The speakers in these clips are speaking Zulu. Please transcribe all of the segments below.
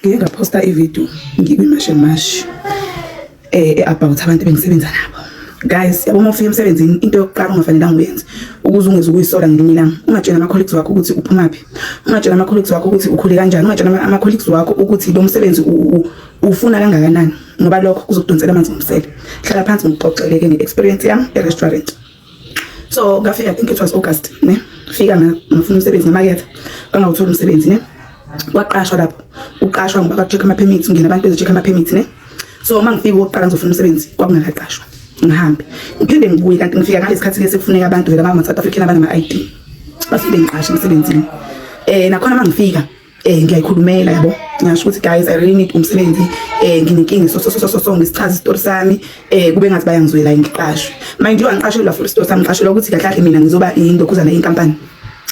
ngike ngaphosta ivideo ngikwimashe mash eh about abantu bengisebenza nabo guys yabo uma ufika emsebenzini into yokuqala ongafanelanga uyenze ukuze ungeze ukuyisola ngelinye ilanga ungatshela ama-colleagues wakho ukuthi uphumaphi ungatshela ama-colleagues wakho ukuthi ukhule kanjani ungatshela ama-colleagues wakho ukuthi lo msebenzi ufuna kangakanani ngoba lokho kuzokudonsela amanzi ngomsele hlala phansi ngikuxoxeleke nge-experience yami e-restaurant so ngafika i think it was august ne fika ngafuna umsebenzi ngemakethe bangawuthola umsebenzi ne kwaqashwa lapho uqashwa ngoba bacheck ama permits ungena abantu bezocheck ama permits ne so uma ngifika oqala ngizofuna umsebenzi kwakungakaqashwa ngihambe ngiphinde ngibuye kanti ngifika ngalesikhathi lesi kufuneka abantu vele abama South African abana ma ID bafike ngiqashe emsebenzini eh nakhona mangifika eh ngiyayikhulumela yabo ngasho ukuthi guys i really need umsebenzi eh nginenkinga so so so so so ngisichaza isitori sami eh kube ngathi bayangizwela ngiqashwe mind you angiqashelwa for isitori sami ngiqashelwa ukuthi kahle kahle mina ngizoba indokuzana yenkampani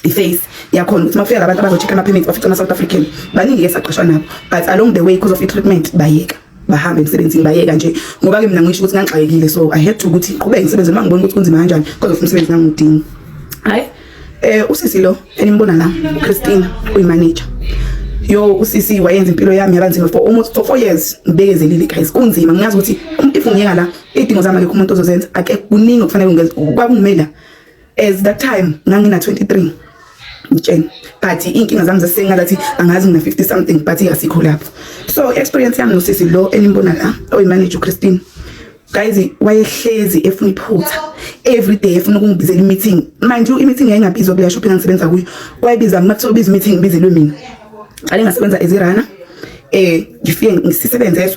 iface yakhona ukuthi mafika labantu abazocheck ama permits bafica ama South African baningi esaqashwa nabo but along the way because of i treatment bayeka bahambe emsebenzini bayeka nje ngoba ke mina ngisho ukuthi ngangixakekile so i had to ukuthi qhubeke ngisebenze noma ngibona ukuthi kunzima kanjani kodwa futhi umsebenzi ngangudingi hayi eh usisi lo enimbona la Christine uyimanager yo usisi wayenza impilo yami yabanzima for almost for 4 years ngibekezelile guys kunzima ngiyazi ukuthi umuntu ifungiyeka la idingo zami akekho umuntu ozozenza akekho kuningi okufanele ngizenze kwakumele as that time ngangina 23 ngitsheni but inkinga zami zasenga lathi angazi mina 50 something but asikho lapho so experience yami nosisi lo enimbona la oyimanager uChristine guys wayehlezi efuna iphutha every day efuna ukungibizela imeeting mind you imeeting yayingabizwa kule shop engisebenza kuyo wayebiza mina kuthiwa ubiza imeeting ngibizelwe mina qale ngasebenza ezirana eh ngifike ngisisebenze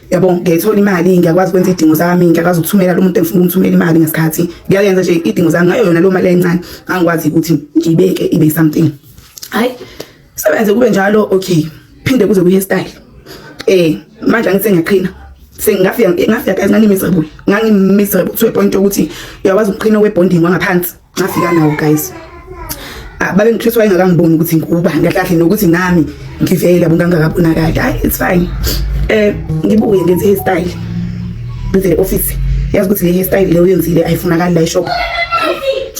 yabo ngiyayithola imali ngiyakwazi ukwenza idingo zami ngiyakwazi ukuthumela lo muntu engifuna ukumthumela imali ngesikhathi ngiyayenza nje idingo zami ngayo yona lo mali encane angikwazi ukuthi ngiyibeke ibe something hayi sebenze kube njalo okay phinde kuze kuye style eh manje angithi ngiyaqhina sengafika ngafika kancane miserable ngangi miserable to a point ukuthi uyakwazi ukuqhina we bonding wangaphansi ngafika nawo guys ah, babe ngikristu wayengakangiboni ukuthi ngikuba ngakahle nokuthi nami ngivele yabo ngangakabonakali hayi it's fine eh ngibuye ngenze hairstyle ngenze office yazi ukuthi le hairstyle leyo yenzile ayifunakali la shop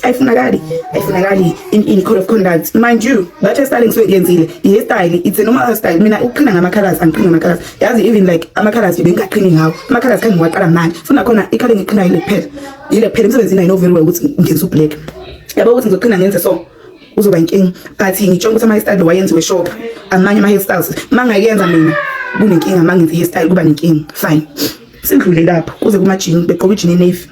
ayifunakali ayifunakali in in code of conduct mind you that hairstyle ngisuke ngiyenzile i hairstyle it's a normal hairstyle mina ukuqhina ngama colors angiqhini ngama colors yazi even like ama colors bengaqhini ngawo ama colors kangiwaqala manje funa khona ikhala ngiqhina ile kuphela yile kuphela emsebenzini ayino very well ukuthi ngenza ublack yabo ukuthi ngizoqina ngenze so uzoba inkinga but ngitshonga ukuthi ama-hairstyle wayenziwe shop amanye ama-hairstyles uma ngayenza mina kunenkinga uma ngenza i-hairstyle kuba nenkinga fine sidlule lapho kuze kumajini begqoka ijini enevi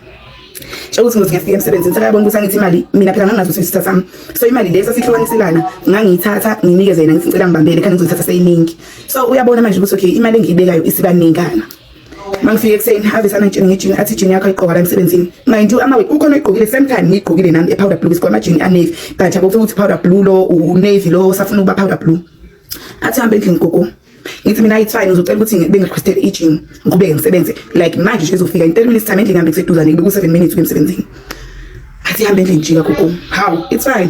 ukuthi ngothi ngiyafika emsebenzini sekayabona ukuthi angithi imali mina phela nganginazo sisitha sami so imali le sasihlukaniselayo ngangiyithatha nginikeze yena ngithi ngicela ngibambele khani ngizoyithatha seyiningi so uyabona manje ukuthi okay imali engiyibekayo isibaningana mangifike ekuseni ave sanangitsheni ngejini athi ijini yakho ayiqoka la emsebenzini mind you amawe ukhona oyigqokile same time ngiyigqokile nami epowder blue isikwa amajini anavy but akufika ukuthi powder blue lo unavy lo safuna ukuba powder blue athi hambe endlini gogo ngithi mina it's fine uzocela ukuthi bengirequestel ijini ngiqhubeke ngisebenze like manje nje ezofika in 10 minutes time endlini ngihambe kuseduzane ngibe ku 7 minutes emsebenzini athi hambe endlini jika gogo how it's fine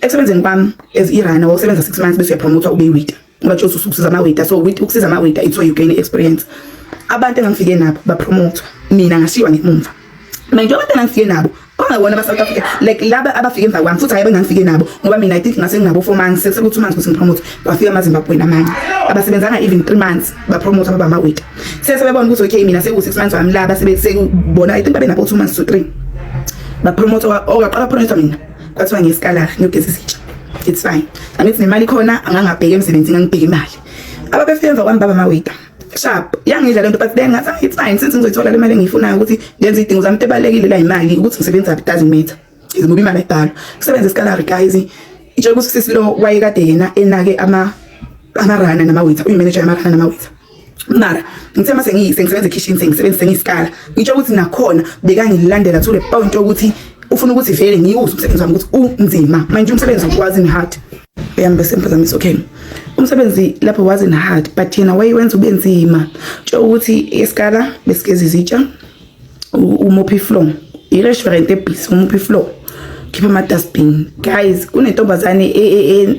Ekusebenzeni kwami as irana wawusebenza 6 months bese uyapromotwa ube iwita. Ngoba nje ususiza ama wita so with ukusiza ama wita it's where you gain experience. Abantu engangifike nabo bapromotwa mina ngashiywa ngemumva. Mina nje abantu engangifike nabo bangawona ba South Africa like laba abafike emva kwami futhi hayibe ngangifike nabo ngoba mina i think ngase nginabo 4 months sekuthi 2 months kuthi ngipromote kwafika ama Zimbabwe namanye abasebenzanga even 3 months ba promote baba ma wait sese bebona ukuthi okay mina seku 6 months wami laba sebekubona i think babe nabo 2 months to 3 ba promote okaqala promote mina kwathiwa ngiyisikalari ngiyogeza isitsha it's fine angithi nemali khona angangabheki emsebenzini angibheki imali ababefike emva kwami baba mawita sharp yangidla lento but then ngathi ah, it's fine since ngizoyithola le mali engiyifunayo ukuthi ngenze idingo zami tebalekile la imali ukuthi ngisebenza it doesn't matter izimubi imali ayibhalwa kusebenza isikalari guys itshela ukuthi sisi lo wayekade yena enake ama amarana namawitha uyimanager yamarana namawitha mara ngithe mase ngisebenza ekhishini sengisebenzise ngisikala ngitsho ukuthi nakhona bekangilandela to the point yokuthi ufuna ukuthi vele ngiwuse umsebenzi wami ukuthi unzima manje umsebenzi ukwazi ni hard uyambe sempazamisa okay umsebenzi lapho was in hard but yena wayewenza ube nzima tsho ukuthi esikala besigeza izitsha umophi flow i-restaurant ebhisi umophi flow khipha ama-dustbin guys kunentombazane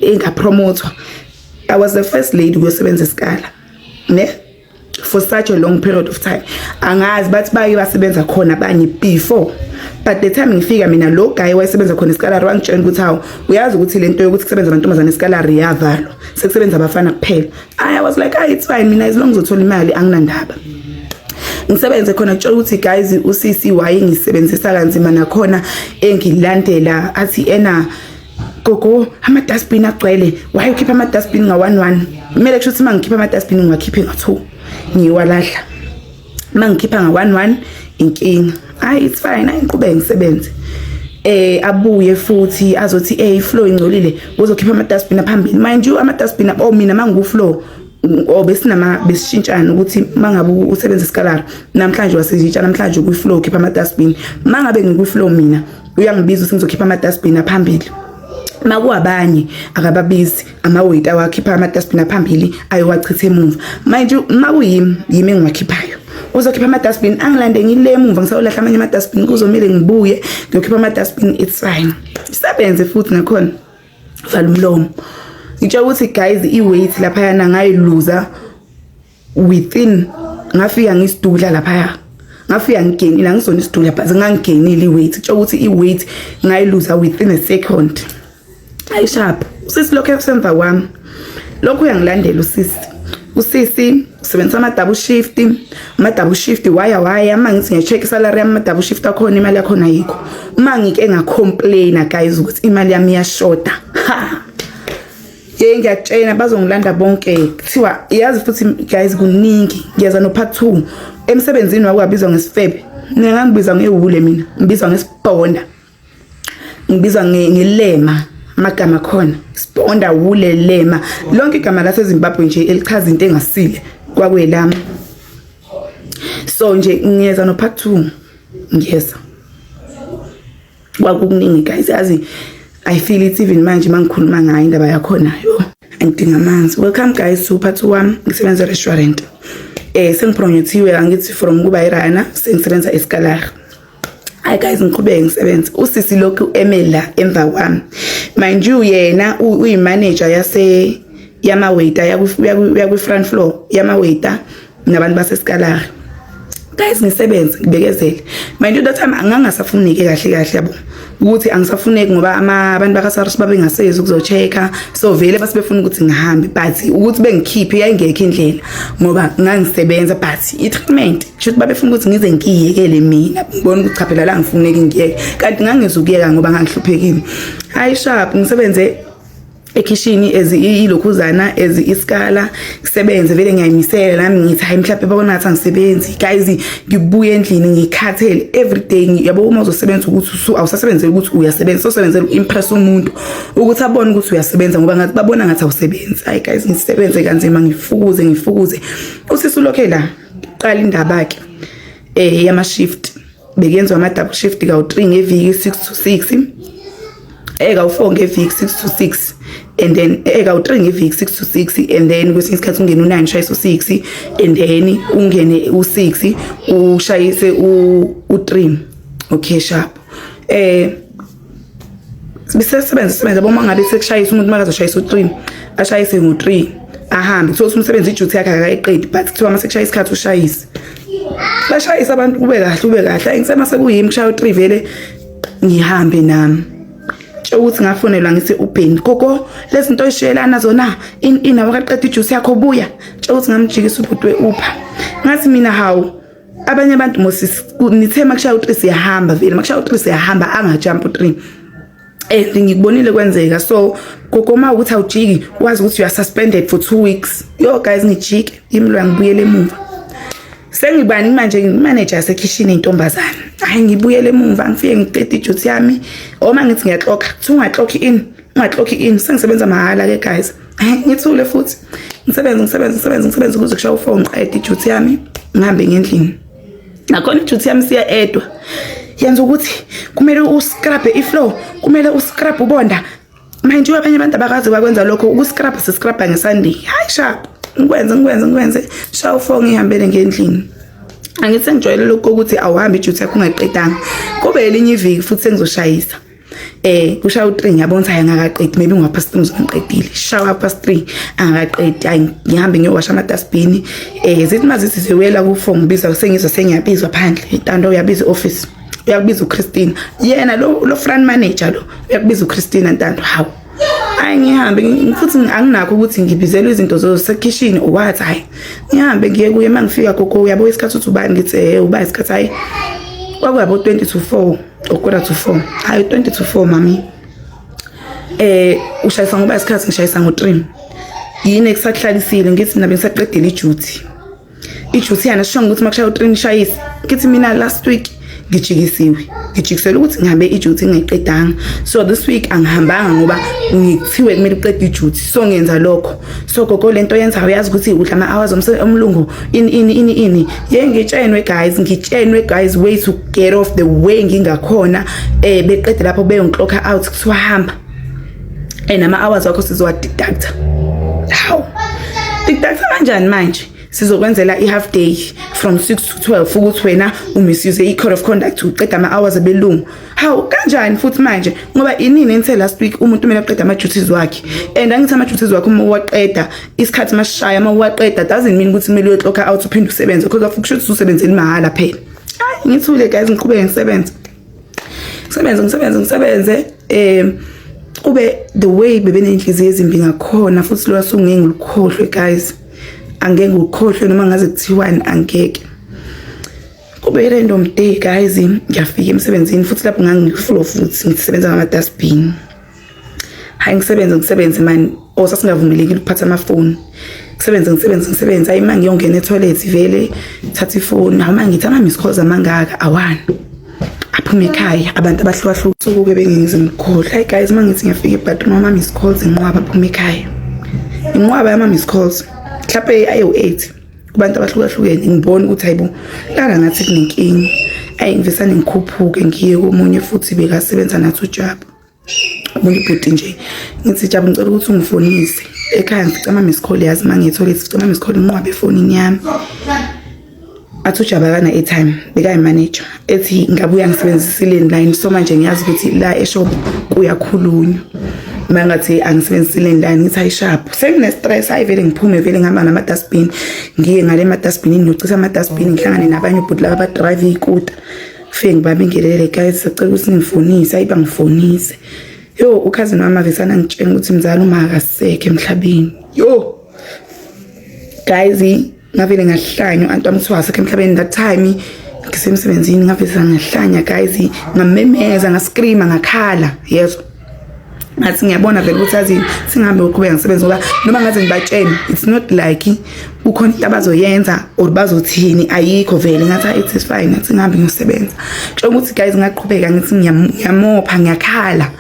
engapromothwa e, e, e, I was the first lady kuyosebenza isikala ne for such a long period of time angazi bathi baye basebenza khona abanye before but the time ngifika mina lo guy wayesebenza khona isikalari wangitshela ukuthi hawu uyazi ukuthi le nto yokuthi kusebenza amantombazane isikalari iyavalwa sekusebenza abafana kuphela i was like ah it's fine mina as long as uthola imali anginandaba ngisebenze khona kutshela ukuthi guys uCC wayengisebenzisa kanzima nakhona engilandela athi ena gogo ama-dustbin agcwele waye ukhipha ama-dustbin nga-one one kumele kusho ukuthi uma ngikhipha ama-dustbin ngiwakhiphe nga-two ngiwalahla uma ngikhipha nga-one one inkinga hayi it's fine hayi ngiqhubeke ngisebenze eh abuye futhi azothi eh iflow ingcolile uzokhipha ama-dustbin aphambili mind you ama-dustbin oh mina uma ngikuflow or besinama besishintshana ukuthi mangabe usebenzisa iskalara namhlanje wasizitsha namhlanje ukwi-flow khipha ama-dustbin mangabe ngikwi-flow mina uyangibiza ukuthi ngizokhipha ama-dustbin aphambili makuwabanye akababizi amaweti awakhipha ama-dustbin aphambili ayowachitha emuva manje makuyimi yimi engiwakhiphayo uzokhipha ama-dustbin angilande ngile emuva ngisayolahla amanye ama-dustbin kuzomele ngibuye ngiyokhipha ama-dustbin it's fine isebenze futhi nakhona vala umlomo ngitsho ukuthi guys i-weight laphayana ngayiluza within ngafika ngisidudla laphaya ngafika ngigenile angisona isidudla but ngangigenile i-weight ngitsho ukuthi i-weight ngayiluza within a second ayishapha usisilokhu esemva kwami lokho uyangilandela usisi usisi usebenzisa ama-double shift ama-double shift waya waya uma ngithi ngiya-check isalary yami ama-double shift akhona imali yakhona yikho uma ngike ngacomplaina guys ukuthi imali yami iyashoda ha ye ngiyakutshena bazongilanda bonke kuthiwa yazi futhi guys kuningi ngiyeza no-part two emsebenzini wakwabizwa ngesifebe mina ngangibiza ngewule mina ngibizwa ngesibhonda ngibiza ngelema amagama khona sibonda wule lema lonke igama lasezimbabwe nje elichaza into engasile kwakwelami so nje ngiyeza no part 2 ngiyeza kwakukuningi guys yazi i feel it even manje mangikhuluma ngayo indaba yakhona yo ngidinga amanzi welcome guys to part 1 ngisebenza restaurant eh sengipromothiwe angithi from kuba irana sengisebenza esikalar hayi guys ngiqhubeke ngisebenze usisi lokhu eme la emva kwami mind you yena uyimanager yase yamawaiter yakwi-front floor yamawaiter nabantu basesikalari guys ngisebenze ngibekezele mind you that time angangasafunike kahle kahle yabo ukuthi angisafuneki ngoba abantu bakaSARS babengasezi ukuzochecka so vele base befuna ukuthi ngihambe but ukuthi bengikhiphe yayingekho indlela ngoba ngangisebenza but i-treatment shuthi babefuna ukuthi ngize ngiyekele mina ngibona ukuthi chaphela la ngifuneki ngiyeke kanti ngangizukuyeka ngoba ngangihluphekile hayi sharp ngisebenze ekhishini as ilokhuzana as isikala ngisebenze vele ngiyayimisela nami ngithi hayi mhlawumbe babona ngathi angisebenzi guys ngibuye endlini ngikhathele everyday yabo uma uzosebenza ukuthi awusasebenzeli ukuthi uyasebenza sosebenze impress umuntu ukuthi abone ukuthi uyasebenza ngoba ngathi babona ngathi awusebenzi hayi guys ngisebenze kanzima ngifukuze ngifukuze usisi ulokhe la qala indaba ke eh yama shift bekuyenzwa ama-double shift kawu-three ngeviki six to six eh kawu-four ngeviki six to six and then eh kawu-three ngeviki six to six and then kwesinye isikhathi ungene u-nine ushaye so-six and then ungene u-six ushayise u-three okay sharp eh sisebenza sisebenza boma ngabe sekushayisa umuntu makazoshayisa u-three ashayise ngo-three ahambe kuthiwa umsebenzi ijuthi yakhe akayiqedi but kuthiwa uma sekushaya isikhathi ushayise bashayise abantu kube kahle ube kahle ayi ngisema sekuyimi kushaya u-three vele ngihambe nami ukuthi ngafonelwa ngithi ubheni gogo lezinto oyishiyelana zona inabo kaqeda ijuice yakho buya ukuthi ngamjikisa ubhuti we-upha ngathi mina hawu abanye abantu mosisi nithe makushaya u3 siyahamba vele makushaya u3 siyahamba angajump u3 and ngikubonile kwenzeka so gogoma ukuthi awujiki wazi ukuthi you are suspended for 2 weeks yo guys ngijike imlwa ngibuyele emuva sengibani manje ngimanager yasekhishini intombazana hayi ngibuyele emuva ngifike ngiqede ijuthi yami oma ngithi ngiyaxoka kuthiwa ungaxoki in ungaxoki in sengisebenza mahala ke guys ngithule futhi ngisebenze ngisebenze ngisebenze ngisebenze ukuze kushaye ufone ngiqede ijuthi yami ngihambe ngendlini nakhona ijuthi yami siya edwa yenza ukuthi kumele uscrabhe iflow kumele uscrabhe ubonda manje abanye abantu abakazi bakwenza lokho ukuscrabha siscrabha ngesandi hayi sharp ngikwenze ngikwenze ngikwenze shaya ufone ngihambele ngendlini angithi sengijwayele lokho ukuthi awuhambi ijuthi yakho ungayiqedanga kube elinye iviki futhi sengizoshayisa eh kushaya u3 ngiyabona ukuthi angakaqedi maybe ngwa past 3 ngizongiqedile shawa past 3 angakaqedi ay ngihambe ngiyowasha ama dustbin eh zithi mazithi sewela ku phone ngibiza sengizwa sengiyabizwa phandle intando uyabiza office uyakubiza uChristine yena lo lo front manager lo uyakubiza uChristine ntando hawu hayi ngihambe futhi anginakho ukuthi ngibizelwe izinto zosekhishini what hayi ngihambe ngiye kuye mangifika gogo uyabo isikhathi uthi ubani ngithi eh uba isikhathi hayi kwakuyabo 20 to 4 Ukora to 4. Hayi 20 to 4 mami. Eh ushayisa ngoba isikhathi ngishayisa ngo 3. Yini ekusahlalisile ngithi mina bengisaqedile iduty. Iduty yana sho ukuthi makushaya u3 ngishayise. Ngithi mina last week ngijikisiwe ngijikisela ukuthi ngihambe iduty ngiqedanga so this week angihambanga ngoba ngithiwe kumele uqede iduty so ngenza lokho so gogo lento yenzayo uyazi ukuthi udla ama hours omlungu ini ini ini ini ye ngitshenwe guys ngitshenwe guys way to get off the way ngingakhona eh beqede lapho beyongiklokha out kuthiwa hamba and ama hours wakho sizowa deduct how deduct kanjani manje sizokwenzela i-half day from 6 to 12 ukuthi wena umisuse i-code of conduct uqeda ama-hours abelungu Hawu kanjani futhi manje ngoba inini enithe last week umuntu kumele aqede ama duties wakhe and angithi ama duties wakhe uma uwaqeda isikhathi masishaya uma uwaqeda doesn't mean ukuthi kumele uyoxoka out uphinde usebenze because of kusho ukuthi usebenzele imahhala phela hayi ngithule guys ngiqhubeke ngisebenze ngisebenze ngisebenze ngisebenze eh kube the way bebenenhliziyo ezimbi ngakhona futhi lo asungeke ngilukhohlwe guys angeke ngikhohlwe noma ngaze kuthiwani angeke kube random day guys ngiyafika emsebenzini futhi lapho ngangifull of futhi ngisebenza ngama-dustbin hayi ngisebenze ngisebenze mani or oh, sasingavumelekile ukuphatha amafoni ngisebenze ngisebenze ngisebenze hayi uma ngiyongena etoilet vele thatha ifoni hawu uma ngithi ama-miss calls amangaka awani aphume ekhaya abantu abahlukahlukene sukuke bengenzi mkhulu hayi guys uma ngithi ngiyafika ebadroom ama-miss calls inqwaba aphume ekhaya inqwaba yama-miss calls mhlawumpe ayewu-eight kubantu abahlukahlukene ngibona ukuthi hayibo lana ngathi kunenkinga ayi ngivesane ngikhuphuke ngiye komunye futhi bekasebenza nathi ujabu umuntu ibhuti nje ngithi jabu ngicela ukuthi ungifonise ekhaya ngicama misikhole yazi uma ngiyithole ngicama misikhole nqwabe efonini yami athi ujabu akana-airtime bekayi-manager ethi ngabuya ngisebenzisile line so manje ngiyazi ukuthi la eshop kuyakhulunywa mangathi angisebenzisile line ngithi ayishaphu sengine stress ayi vele ngiphume vele ngihamba nama dustbin ngiye ngale ma dustbin ngiyocisa ama dustbin ngihlangane nabanye ubhuti laba drive ikuta fike ngibambe ngelele guys sicela ukuthi ngifonise ayiba ngifonise yo ukhazini wami avesana ngitshela ukuthi mzali uma akasekho emhlabeni yo guys ngavele ngahlanya anti wamthiwa asekho emhlabeni that time ngisemsebenzini ngaveza ngahlanya guys ngamemeza ngascreama ngakhala yezwa ngathi ngiyabona vele ukuthi azi singahambe uqhubeka ngisebenze ngoba noma ngaze ngibatshene it's not like kukhona into abazoyenza or bazothini ayikho vele ngathi it is fine ngathi ngihambe ngiyosebenza kusho ukuthi guys ngaqhubeka ngithi ngiyamopha ngiyakhala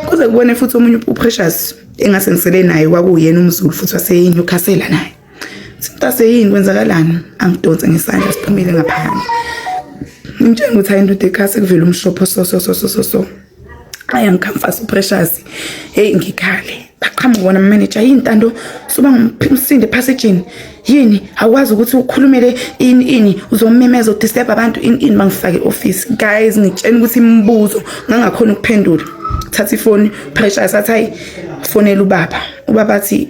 kuze kubone futhi omunye uprecious engasengisele naye kwakuyena umzulu futhi waseyinyukhasela naye Simtase yini kwenzakalani? Angidonse ngesandla siphumile ngaphandle. Ngimtshela ukuthi hayi ndoda ekhasi kuvela umshopho so so so so so so. Aya ngikhamfasa uprecious. Hey ngikhale. Baqhamuka bona manager yini ntando suba ngumphimsinde passage yini awukwazi ukuthi ukhulumele ini ini uzomemeza udisturb abantu ini ini mangifake office guys ngitshena ukuthi imibuzo ngangakhona ukuphendula thatha ifoni pressure sathi hayi fonela ubaba ubaba athi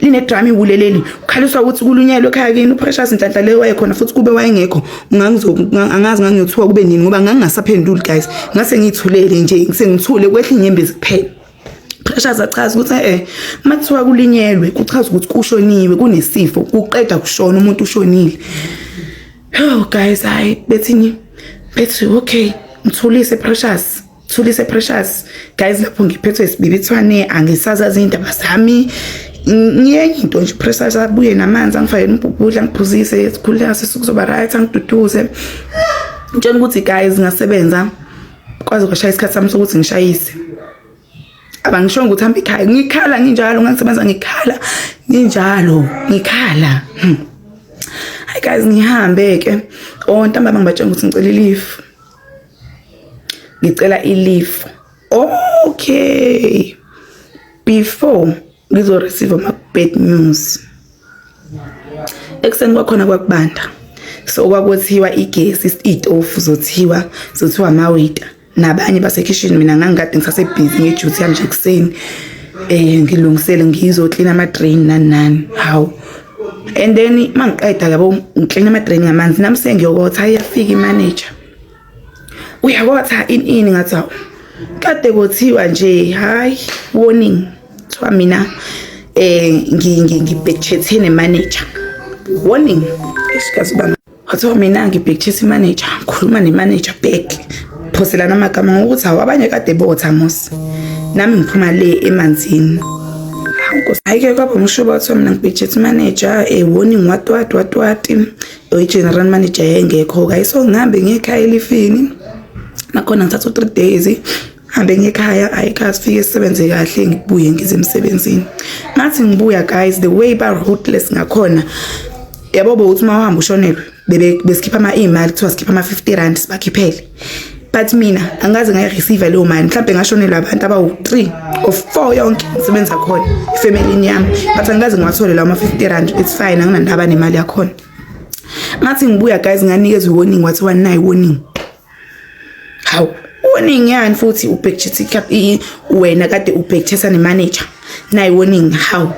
linedrama iwule leli ukhaliswa ukuthi kulunyelwe ekhaya kini uprecious nhlanhla leyo wayekhona futhi kube wayengekho angazi ngangiyothiwa kube nini ngoba ngangingasaphenduli guys ngase ngiyithulele nje sengithule kwehla inyembezi kuphela precious achaza ukuthi eh uma kuthiwa kulinyelwe kuchaza ukuthi kushoniwe kunesifo kuqeda kushona umuntu ushonile oh guys hayi bethini bethi okay mthulise precious Thulise Precious guys lapho ngiphethwe isibibithwane angisazazi indaba zami ngiyenye into nje Precious abuye namanzi angifake umbhubhudla ngiphuzise sikhuleka sisukuzoba right angiduduze ngitshela ukuthi guys ngasebenza kwaze kwashaya isikhathi sami sokuthi ngishayise abangishongo ukuthi hamba ekhaya ngikhala nginjalo ngangisebenza ngikhala nginjalo ngikhala hmm. hayi guys ngihambe ke o oh, ntambama ngibatshela ukuthi ngicela ilifu ngicela ilifu okay before ngizoreceive ama-bad news ekuseni kwakhona kwakubanda so kwakuthiwa igesi iy'tofu zothiwa zothiwa amawita nabanye basekhishini mina ngangikade ngisasebhizi ngejuthi yami nje ekuseni um ngilungisele ngizoklina ama-drain nani nani hawu and then uma ngiqeda yabo ngiklina ama-drain ngamanzi nami sengiyokotha iyafika imanager uyabona cha ini ini ngathi awu kade kothiwa nje hayi warning kuthiwa mina eh ngibhekchethe nemanager warning isikazi bami kuthiwa mina ngibhekchethe imanager ngikhuluma nemanager back phoselana amagama ngokuthi awu abanye kade botha mos nami ngiphuma le emanzini hayi ke kwaba ngisho bathiwa mina ngibhekchethe imanager eh warning watwat watwati oyi-general manager yayengekho-ke ayi so ngihambe ngiye ekhaya elifini nakhona ngithatha u-three days hambe ngekhaya ayi kha sifike sisebenze kahle ngibuye ngize emsebenzini ngathi ngibuya guys the way ba-rootless ngakhona yabo bowuthi uma uhamba ushonelwe besikhipha ama-imali kuthiwa sikhipha ama-fifty rand sibakhiphele but mina angaze ngayireceive leyo mali mhlawumbe ngashonelwa abantu abawu-three or four yonke ngisebenza khona efemelini yami but angikaze ngiwathole lawo ma-fifty rand it's fine anginandaba nemali yakhona ngathi ngibuya guys nganikezwa i-warning wathi wanayi warning hawu warning yani futhi ubhekthisa wena kade ubhekthisa nemanager nayi warning hawu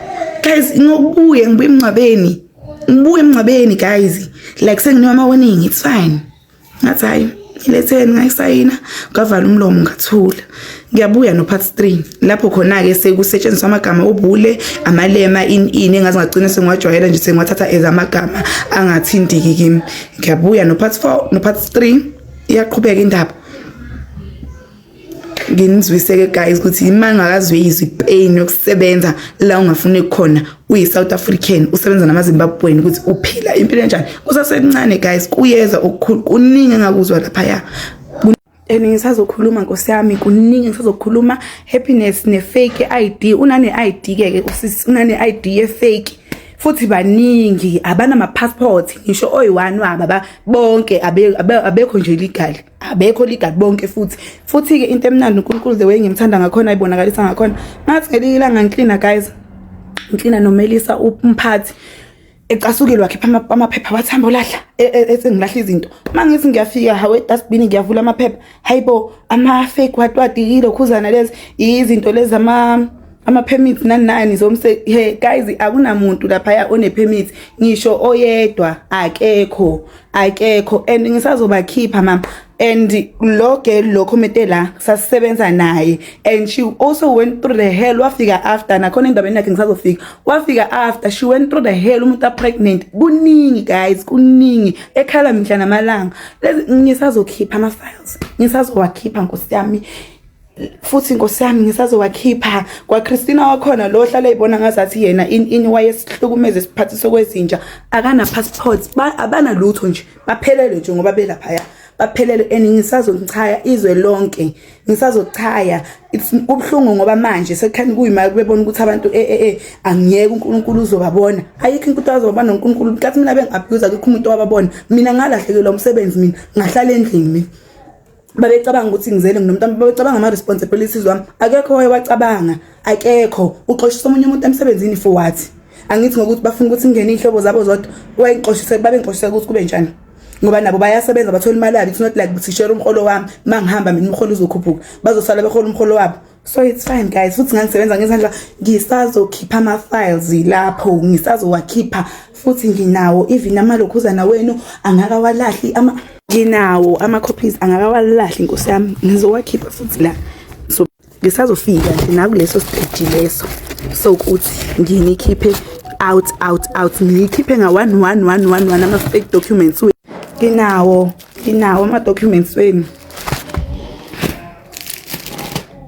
guys ngokubuye ngibuye emngcwabeni ngibuye emngcwabeni guys like senginiwa ama-warning it's fine ngathi hayi ngiletheni ngayisayina ngavala umlomo ngathula ngiyabuya no part 3 lapho khona ke sekusetshenziswa amagama obule amalema in in engazi ngagcina sengiwajwayela nje sengiwathatha as amagama angathintiki kimi ngiyabuya no part 4 no part 3 iyaqhubeka indaba nginizwiseke guys ukuthi imali ngakazwe izwi pain yokusebenza la ungafune khona uyi South African usebenza nama Zimbabwean ukuthi uphila impilo enjani kusasencane guys kuyeza okukhulu kuningi engakuzwa lapha ya and ngisazokhuluma nkosi yami kuningi ngisazokhuluma happiness ne fake ID unane ID ke ke usisi unane ID ye fake futhi baningi abanama passport ngisho oyi-one wabo bonke abekho nje legal abekho ligadi bonke futhi futhi-ke into emnandi unkulunkulu the way ngimthanda ngakhona ayibonakalisa ngakhona ngathi ngelinye ilanga ngiklina guys ngiklina nomelisa umphathi ecasukile wakhipha amaphepha wathi hamba olahla e, e, ethi ngilahla izinto uma ngithi ngiyafika hawe dustbin ngiyavula amaphepha hayibo ama-fake watwadi yilokhuzana lezi yizinto lezi ama ama-permit nani nani zomse he guys akunamuntu laphaya one-permit ngisho oyedwa akekho akekho and ngisazobakhipha mama and lo girl lo committee la sasisebenza naye and she also went through the hell wafika after nakhona endabeni yakhe ngisazofika wafika after she went through the hell umuntu apregnant kuningi guys kuningi ekhala mihla namalanga lezi ngisazokhipha ama files ngisazowakhipha nkosi yami futhi inkosi yami ngisazowakhipha kwaChristina wakhona lo ohlala ibona ngazathi yena ini wayesihlukumeze isiphathi sokwezinja akana passport abana lutho nje baphelele nje ngoba belapha ya baphelele and ngisazochaya izwe lonke ngisazochaya kubhlungu ngoba manje sekukhani kuyimali bebona ukuthi abantu eh eh, eh angiyeke uNkulunkulu uzobabona ayikho inkuthu azobabona uNkulunkulu kathi mina bengabuza kukho umuntu owababona mina ngalahlekelwa umsebenzi mina ngahlala endlini mina babecabanga ukuthi ngizele nginomntwana babecabanga ama responsibilities wami akekho waye wacabanga akekho uxoshisa omunye umuntu emsebenzini for what angithi ngokuthi bafuna ukuthi ngene inhlobo zabo zodwa wayengixoshise babe ngixoshise ukuthi kube njani ngoba nabo bayasebenza bathola imali yabo it's not like ukuthi share umholo wami mangihamba mina umholo uzokhuphuka bazosala behola umholo wabo so it's fine guys futhi ngangisebenza ngezandla ngisazokhipha ama-files lapho ngisazowakhipha futhi nginawo even amalokhuzana wenu angakawalahli ama nginawo ama-copies angakawalahli nkosi yami ngizowakhipha futhi la so ngisazofika nje nakuleso stage leso sokuthi nginikhiphe out out out ngiyikhiphe nga-one one one one one ama-fake documents nginawo nginawo ama-documents wenu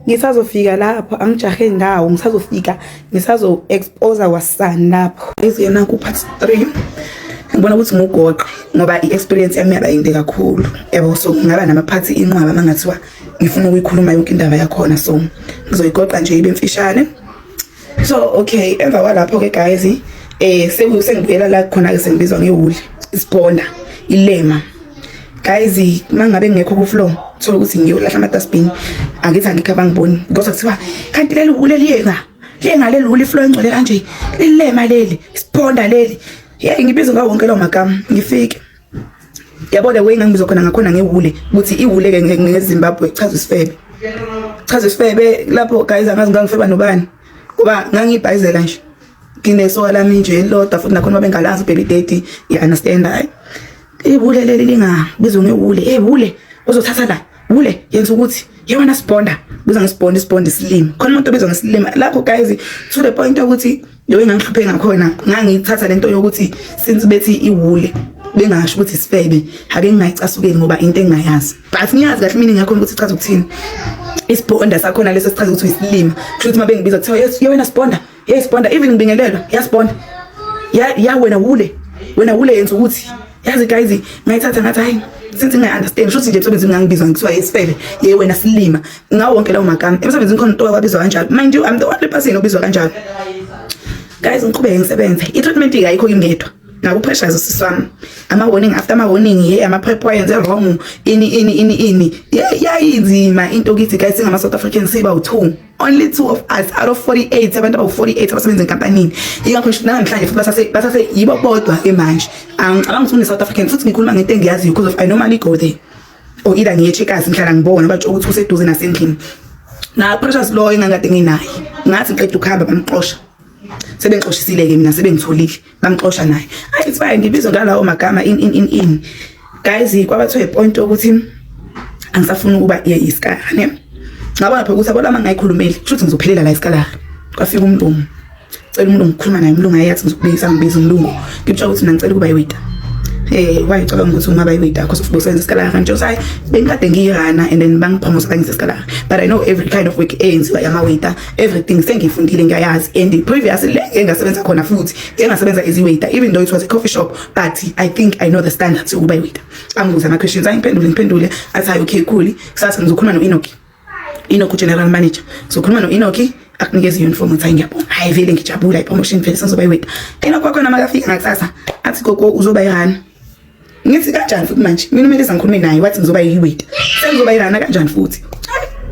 ngisazofika lapho angijahe ndawo ngisazofika ngisazo-expose kwasani lapho iziyena ku-part three ngibona ukuthi ngugoqe ngoba i-experience yami yaba yinde kakhulu yabo so ngingaba namaphathi inqwaba uma ngathiwa ngifuna ukuyikhuluma yonke indaba yakhona so ngizoyigoqa nje ibe mfishane so okay emva kwalapho ke guys eh sengibuyela la khona ke sengibizwa ngewuli isibhola ilema guys mangabe ngekho ku floor thola ukuthi ngiyolahla ama dustbin angithi angikho abangiboni because kuthiwa kanti leli wule liyeka liyenga leli wule floor engcwele kanje lilema leli isiphonda leli yey ngibizwa ngawo wonke lo magama ngifike yabo the way ngangibiza khona ngakhona ngewule ukuthi iwule ke ngezimbabwe chaza isifebe chaza isifebe lapho guys angazi ngangifeba nobani kuba ngangibhayizela nje nginesoka lami nje elilodwa futhi nakhona babengalazi baby daddy you understand hayi iwule leli lingabizwa ngewule hey wule uzothatha la wule yenza ukuthi yona sibonda biza ngesibonda isibonda isilimi khona umuntu obizwa ngesilimi lapho guys to the point ukuthi Yo engangihluphe ngakhona ngangithatha lento yokuthi since bethi iwule bengasho ukuthi sifebe ake ngingayicasukeli ngoba into engingayazi but ngiyazi kahle mina ngakhona ukuthi ichaza ukuthini isibonda sakhona leso sichaza ukuthi isilima kusho ukuthi mabengibiza kuthiwa yes yewena sibonda yes sibonda even ngibingelelwa yasibonda ya ya wena wule wena wule yenza ukuthi yazi guys ngayithatha ngathi hayi since ngingayi-understand shuthi nje emsebenzini ngangibizwa ngithiwa yesifebe ye wena silima ngawo wonke lawo magama emsebenzini khona utoka kwabizwa kanjalo mind you i'm the only person obizwa kanjalo guys ngiqhubeke ngisebenze i-treatment-ke ayikho kimngedwa ngabo pressure zosisi wami ama warning after ama warning ye ama prep wayenze wrong ini ini ini ini yayinzima into kithi guys singama South Africans siba u2 only two of us out of 48 abantu abawu-48 abasebenza enkampanini yingakho nanamhlanje futhi basase basase yibo bodwa ke manje angicabanga ukuthi une-south african futhi ngikhuluma ngento engiyaziyo because of i normally go there or either ngiye checkers ngihlala ngibona batsho ukuthi useduze nasendlini na-pressures loyo engangikade nginaye ngathi ngiqeda ukuhamba bamxosha sebengixoshisile-ke mina sebengitholile bamxosha naye ayi it's fine ngibizwa ngalawo magama in in in in guys kwaba to a point ukuthi angisafuni ukuba ye iskara ne ngabona phela ukuthi abona uma ngayikhulumeli futhi ngizophelela la iskara kwafika umlungu cela umlungu ukhuluma naye umlungu ayathi ngizokubizisa ngibiza umlungu ngitshela ukuthi mina ngicela ukuba yiwida eh wayicabanga ukuthi ungaba yiwida because ufuthi usenza iskara kanti usayi bengikade ngiyirana and then bangipromote bangise iskara but i know every kind of work eyenziwa yamawida everything sengiyifundile ngiyayazi and previous le engasebenza khona futhi engasebenza as waiter even though it was a coffee shop but i think i know the standards yokuba waiter angibuza ama questions angiphendule ngiphendule athi hayi okay cool kusasa ngizokhuluma no Enoki Enoki general manager ngizokhuluma no Enoki akunikeza uniform ngithi ngiyabonga hayi vele ngijabula i promotion vele sengizoba waiter ena kwakho namakafika ngakusasa athi gogo uzoba yani ngithi kanjani futhi manje mina umele sangikhulume naye wathi ngizoba yiweta sengizoba irana kanjani futhi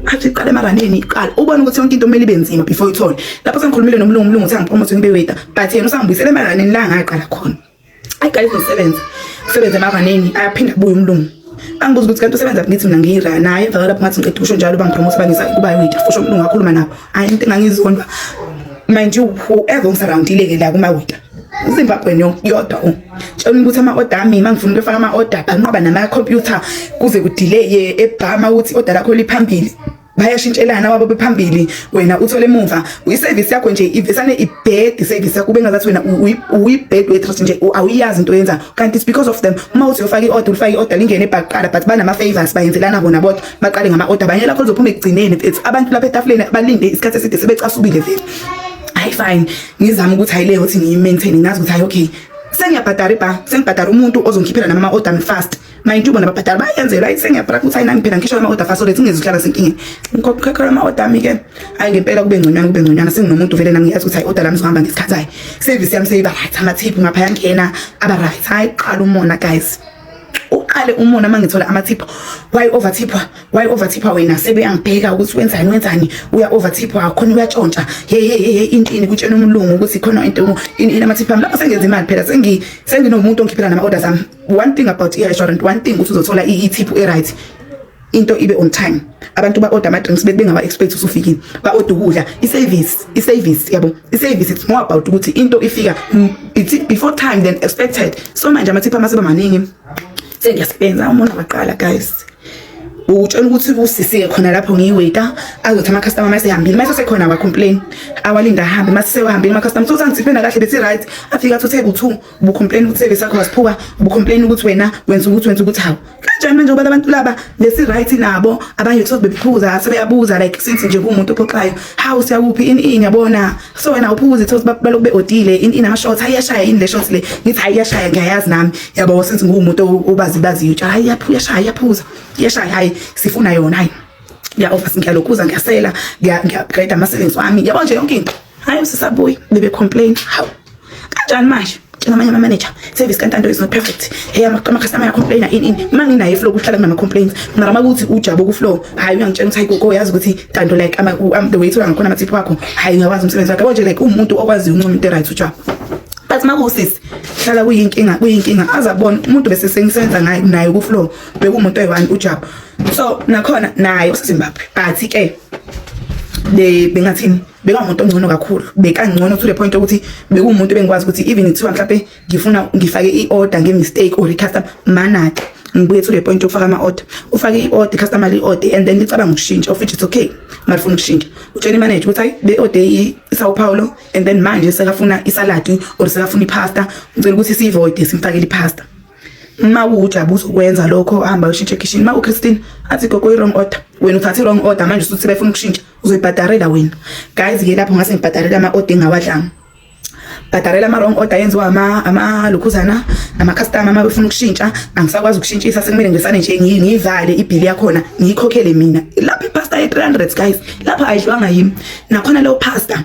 athi iqala emaraneni iqala ubona ukuthi yonke into kumele ibe nzima before ithole lapho sengikhulumile nomlungu umlungu uthi angipromote ngibe weta but yena usangibuyisela emaraneni la ngaqala khona ayiqala izosebenza usebenza emaraneni ayaphinda kubuye umlungu angibuza ukuthi kanti usebenza ngithi mina ngiyira naye emva kwalapho ngathi ngiqeda ukusho njalo bangipromote bangisa kuba weta fusho umlungu akhuluma nabo hayi into engangizondwa mind you whoever ngisurroundile ke la kuma weta Zimbabwe yodwa u tshela ukuthi ama order ami mangifuna ukufaka ama order banqoba nama computer kuze ku delay ebhama ukuthi order lakho liphambili bayashintshelana wabo bephambili wena uthole emuva uyiservice yakho nje ivesane ibed service yakho bengazathi wena uyibed waitress nje awuyazi into yenza kanti it's because of them uma uthi uyofaka i-order ulifaka i-order lingene ebhaqala but banama-favors bayenzelana bona bodwa baqale ngama-order banye lakho lizophuma ekugcineni mfethu abantu lapha etafuleni balinde isikhathi eside sebecasubile vele hayi fine ngizama ukuthi hayi leyo ukuthi ngiyi-maintain ngazi ukuthi hayi okay sengiyabhadara ibha sengibhadara umuntu ozongikhiphela nami ama-order fast mayintubo nababhadara bayenzela ayi sengiyabhara ukuthi hayi nangiphela ngisho ama-order fast olethe ungeze uhlala senkinga ngikhokhela ama-order ami-ke hhayi ngempela kube ngconywana kube ngconywana senginomuntu vele nami ngiyazi ukuthi hayi order lami zohamba ngesikhathi hayi service yami seyiba right amathiphu ngapha yangena aba right hayi qala umona guys uqale umona uma ngithola amathipha why overthipha why overthipha wena sebeyangibheka ukuthi wenzani wenzani uya overthipha khona uyatshontsha hey hey hey intini kutshena umlungu ukuthi khona into ini inamathipha lapho sengenza imali phela sengi senginomuntu ongikhiphela nama orders am one thing about i restaurant one thing ukuthi uzothola i tip e right into ibe on time abantu ba order ama drinks bebe bengawa expect usufikile ba order ukudla i service i service yabo i service it's more about ukuthi into ifika mm, it's before time than expected so manje amathipha mase bamaningi sengiyasebenza umuntu waqala guys utshela ukuthi kusisike khona lapho ngiyiwaiter azothi ama customer mase hambile mase sekhona wa complain awalinda hambe mase sewahambile ama customer so sangithiphe nakahle bethi right afika to table 2 ubucomplain ukuthi service yakho wasiphuka ubucomplain ukuthi wena wenza ukuthi wenza ukuthi hawu kanjani manje ngoba abantu laba lesi right nabo abanye kuthi bephuza sebeyabuza like since nje kumuntu ophoxayo hawu siyakuphi in in yabona so wena uphuza ukuthi balokube odile in in ama shots hayashaya in le shots le ngithi hayashaya ngiyayazi nami yabo since ngumuntu obazi bazi utsha hayaphuya shaya yaphuza yeshaya hayi sifuna yona hayi ngiya office ngiyalokhuza ngiyasela ngiya ngiya grade ama savings wami yabo nje yonke into Hayi usisabuyi bebe complain. Hawu. Kanjani manje? njengamanye ama-manager service kantanto is not perfect hey ama-customer yacomplaina ini ini uma nginaye flow kuhlala kunama-complaints mara uma kuthi ujabo kuflow hhayi uyangitshela ukuthi hayi koko uyazi ukuthi tanto like the way thola ngakhona amathiphi wakho hhayi ngiyakwazi umsebenzi wakhe konje like uwumuntu okwaziyo uncoma into eright ujabo but uma kuwusisi hlala kuyinkinga kuyinkinga azabona umuntu bese sengisebenza ngaye naye kuflow bekuwumuntu oyi-one ujabo so nakhona naye usezimbabwe but-ke bengathini bekamuntu ongcono kakhulu bekangcono to the point ukuthi bekuwumuntu bengikwazi ukuthi even kuthiwa mhlawumbe ngifuna ngifake i-order nge-mistake or i-customer manake ngibuye to the point yokufaka ama-order ufake i-order i-customer li-order and then licabanga ukushintsha of which it's okay malifuna ukushintsha utshela imanager ukuthi hayi be-order i-sao paulo and then manje sekafuna isaladi or sekafuna ipasta ngicela ukuthi siyivoide simfakele ipasta uma uwujabu uzokwenza lokho hamba ushintshe ekhishini uma uchristine athi gogo i-wrong order wena uthathe i-wrong order manje usuthi befuna ukushintsha uzoyibhadarela wena guys ke lapho ngase ngibhadarela ama order engawadlanga bhadarela ama wrong order yenziwa ama ama lukhuzana ama customer uma befuna ukushintsha angisakwazi ukushintshisa sekumele ngisane nje ngiyivale ibhili yakhona ngiyikhokhele mina lapha ipasta ye 300 guys lapha ayidlwanga yimi nakhona leyo pasta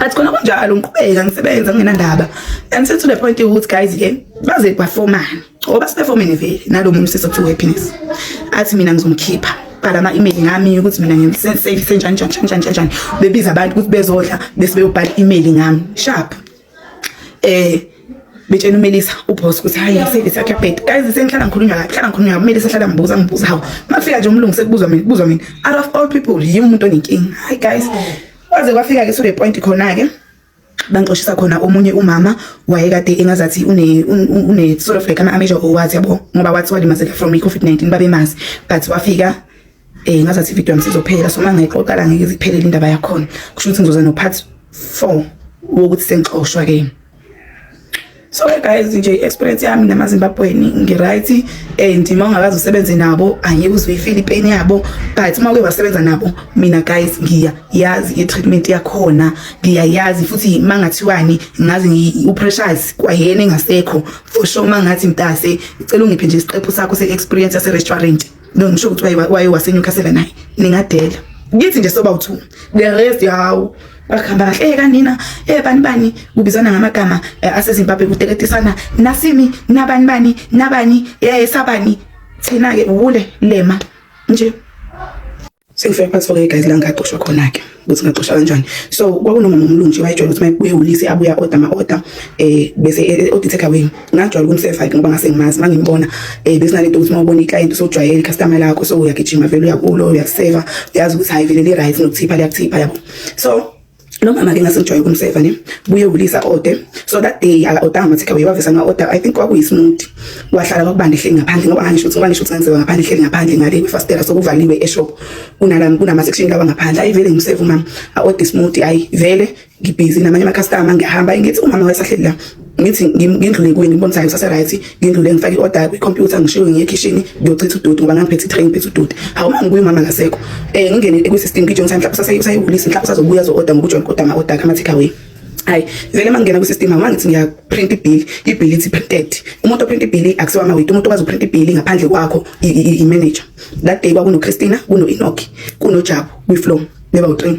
athi khona kunjalo ngiqhubeka ngisebenza ngingenandaba and since to the point ukuthi guys ke baze bafomane ngoba sibefomene vele nalomunye usisi okuthiwa happiness athi mina ngizomkhipha bhala ama-email ngami ukuthi mina ngisenjani njani njani njani njani bebiza abantu ukuthi bezodla bese beyobhala i-email ngami sharp eh betshena umelisa uboss ukuthi hayi service yakhe yabheda guys sengihlala ngikhulunywa kahle hlala ngikhulunywa umelisa sahlala ngibuza ngibuza hawo mafika nje umlungu sekubuzwa mina kubuzwa mina out of all people yimi umuntu onenkinga hayi guys waze kwafika ke so the point khona ke bangixoshisa khona omunye umama wayekade engazathi une une sort of like ama amateur owathi yabo ngoba wathi walimazeka from i-covid 19 babemazi but wafika Eh ngazathi video yami sizophela so mangeke oqala ngeke iziphelele indaba yakhona. Kusho ukuthi ngizoza no part 4 wokuthi sengixoshwa ke. So ke guys nje experience yami nama Zimbabwean ngi right and uma ungakazi usebenze nabo angeke uzwe ifeel pain yabo but uma uke wasebenza nabo mina guys ngiya yazi i treatment yakhona ngiya yazi futhi mangathiwani ngazi ngi u pressures kwayena engasekho for sure mangathi mtase icela ungiphe nje isiqephu sakho se experience yase restaurant no ngisho ukuthi waye waseNewcastle naye ningadela ngithi nje soba uthu the rest yawo bakhamba kahle eh kanina eh bani bani kubizana ngamagama eh, aseZimbabwe kuteketisana nasimi nabani bani nabani eh sabani thina ke ule lema nje Sengifika phansi kwake guys la ngaxoshwa khona ke ukuthi ngaxoshwa kanjani. So kwakunomama umlungu wayejwayele ukuthi mayebuye ulisi abuya order ama order eh bese eh, eh, order take away. Ngajwayela ukumseva ke ngoba ngase ngimazi mangimbona eh bese nalento ukuthi mawubona iclient usojwayele customer lakho so uyagijima vele uyakulo uyaseva uyazi ukuthi hayi vele li right nokuthipha liyakuthipha yabo. So lo mama ke ngase ngijwayele ukumseva ne buye ulisa order so that day aka order ama takeaway wavesa nga order i think kwakuyisimudi wahlala kwakubanda ehleli ngaphandle ngoba ngisho ukuthi ngoba ngisho ukuthi ngenziwa ngaphandle ehleli ngaphandle ngale kwifastela sokuvaliwe eshop kunalami kunama section lawa ngaphandle ayi vele ngimseva umama a order smoothie ayi vele ngibhizi namanye ama customer ngihamba ngithi umama wayesahleli la ngithi ngindlule kuye ngibona ukuthi ngisase-right ngindlule ngifake i-order kwi-computer ngishiwe ngiye ekhishini ngiyochitha udoti ngoba ngangiphethe i-tray ngiphethe udoti hawu uma ngibuye umama akasekho um ngingene kwi-system ngijona ukuthi mhlawumbe usayewulisi mhlawumbe usazobuya zo-order ngoba ujona kodwa ama-order akhe ama-take away hayi vele uma ngingena kwi-system hawu mangithi ngiyaprint ibhili ibhili ithi printed umuntu oprint ibhili akusiwa amawiti umuntu okwazi uprint ibhili ngaphandle kwakho i-manager that day kwakunochristina kuno-enoki kunojabu kwi-flow beba u-train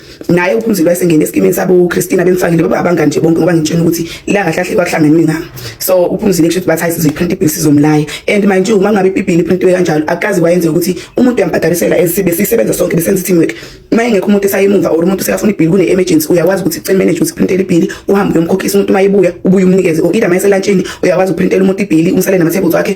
naye uphumzile esengene esikimini sabo Christina bemfakile baba abangani nje bonke ngoba ngitshena ukuthi la kahle kahle kwakuhlangene mina so uphumzile kusho ukuthi bathi hayi sizoyiprint ibill sizomlaya and mind you uma ngabe ibill iprintiwe kanjalo akazi wayenze ukuthi umuntu uyambhadalisela esibe sisebenza sonke besenza team work uma engekho umuntu esayemumva or umuntu sekafuna ibill kune emergency uyakwazi ukuthi cell manager ukuthi printele ibill uhambe uyomkhokhisa umuntu uma ebuya ubuye umnikeze or either mayese lantshini uyakwazi uprintela umuntu ibill umsale nama tables wakhe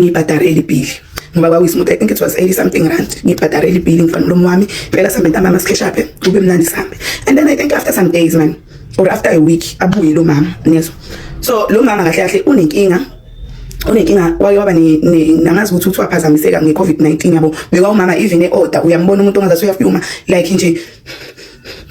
ngibhadare elibhili ngoba kwakuyisimutha i think it was 80 something rand ngibhadare elibhili ngifana nomlomo wami phela sambe ntambama sikheshaphe kube mnandi sambe and then i think after some days man or after a week abuye lo mama niyezwa so lo mama kahle kahle unenkinga unenkinga waye waba nangazi ukuthi uthi waphazamiseka nge-covid-19 yabo bekwa umama even e-order uyambona umuntu ongazathi uyafyuma like nje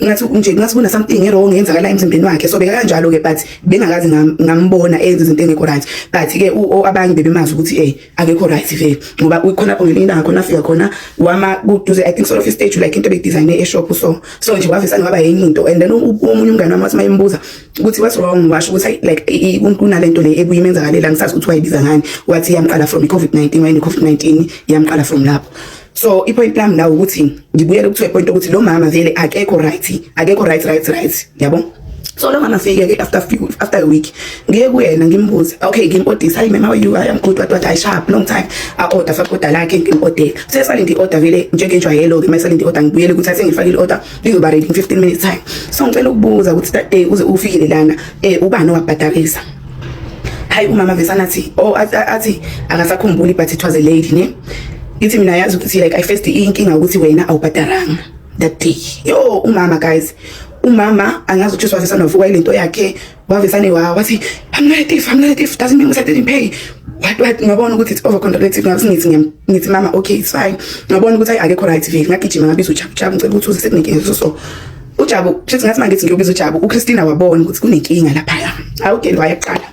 ngathi nje ngathi kuna something wrong yenzakala emzimbeni wakhe so beka kanjalo ke but bengakazi ngambona enza izinto engekho right but ke abanye bebemazi ukuthi eh akekho right vele ngoba ukhona lapho ngelinye ilanga khona afika khona wama kuduze i think sort of stage like into bedesign e shop so so nje wavisa ngaba yenye into and then omunye umngane wami wathi mayembuza ukuthi what's wrong washo ukuthi like kunalento le ebuyimenzakalela ngisazi ukuthi wayibiza ngani wathi yamqala from i covid 19 wayene covid 19 yamqala from lapho so ipoint lami nawe ukuthi ngibuyele kuthiwe point ukuthi lo mama vele akekho right akekho right right right yabo so lo mama fike ke after few after a week ngiye kuyena ngimbuze okay ngimpodisa hayi mama you i am good what what i sharp long time a order fa order lakhe ngimpodela sesale ndi order vele njengenjwayelo ke mayisale ndi order ngibuyele ukuthi athe ngifake i order lizoba ready in 15 minutes time so ngicela ukubuza ukuthi that day uze ufikile lana eh ubani owabhadarisa hayi umama vesana athi oh athi akasakhumbuli but it was a lady ne ithi mina yazi ukuthi like i first inkinga ukuthi wena awubhadaranga that day yo umama guys umama angazi ukuthi wavesa novuka ilento yakhe wavesane wa wathi i'm not a thief i'm not a thief doesn't mean i didn't pay what what ngabona ukuthi it's over contradictive ngathi ngithi ngithi mama okay it's fine ngabona ukuthi akekho right vile ngagijima ngabiza uchapu chapu ngicela ukuthi uze sekunenkinga so so uJabu kushuthi ngathi mangithi ngiyobiza uJabu uChristina wabona ukuthi kunenkinga lapha awugeni wayeqala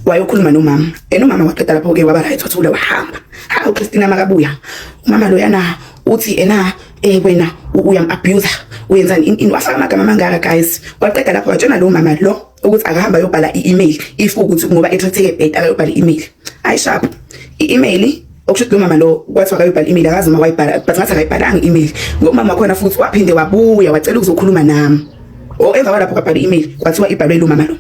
wayokhuluma nomama and umama waqeda lapho ke waba right wathula wahamba ha uChristina makabuya umama loyana uthi ena eh wena uyam abuser wenzani in wafaka amagama amangaka guys waqeda lapho watshena lo mama lo ukuthi akahamba yobhala i-email if ukuthi ngoba ethatheke bed akayobhala i-email ayishapho i-email okusho ukuthi lomama lo kwathi akayibhala email akazi uma wayibhala but ngathi akayibhalanga email ngomama wakhona futhi waphinde wabuya wacela ukuzokhuluma nami o emva kwalapho kwabhala email kwathiwa ibhalwe lomama lo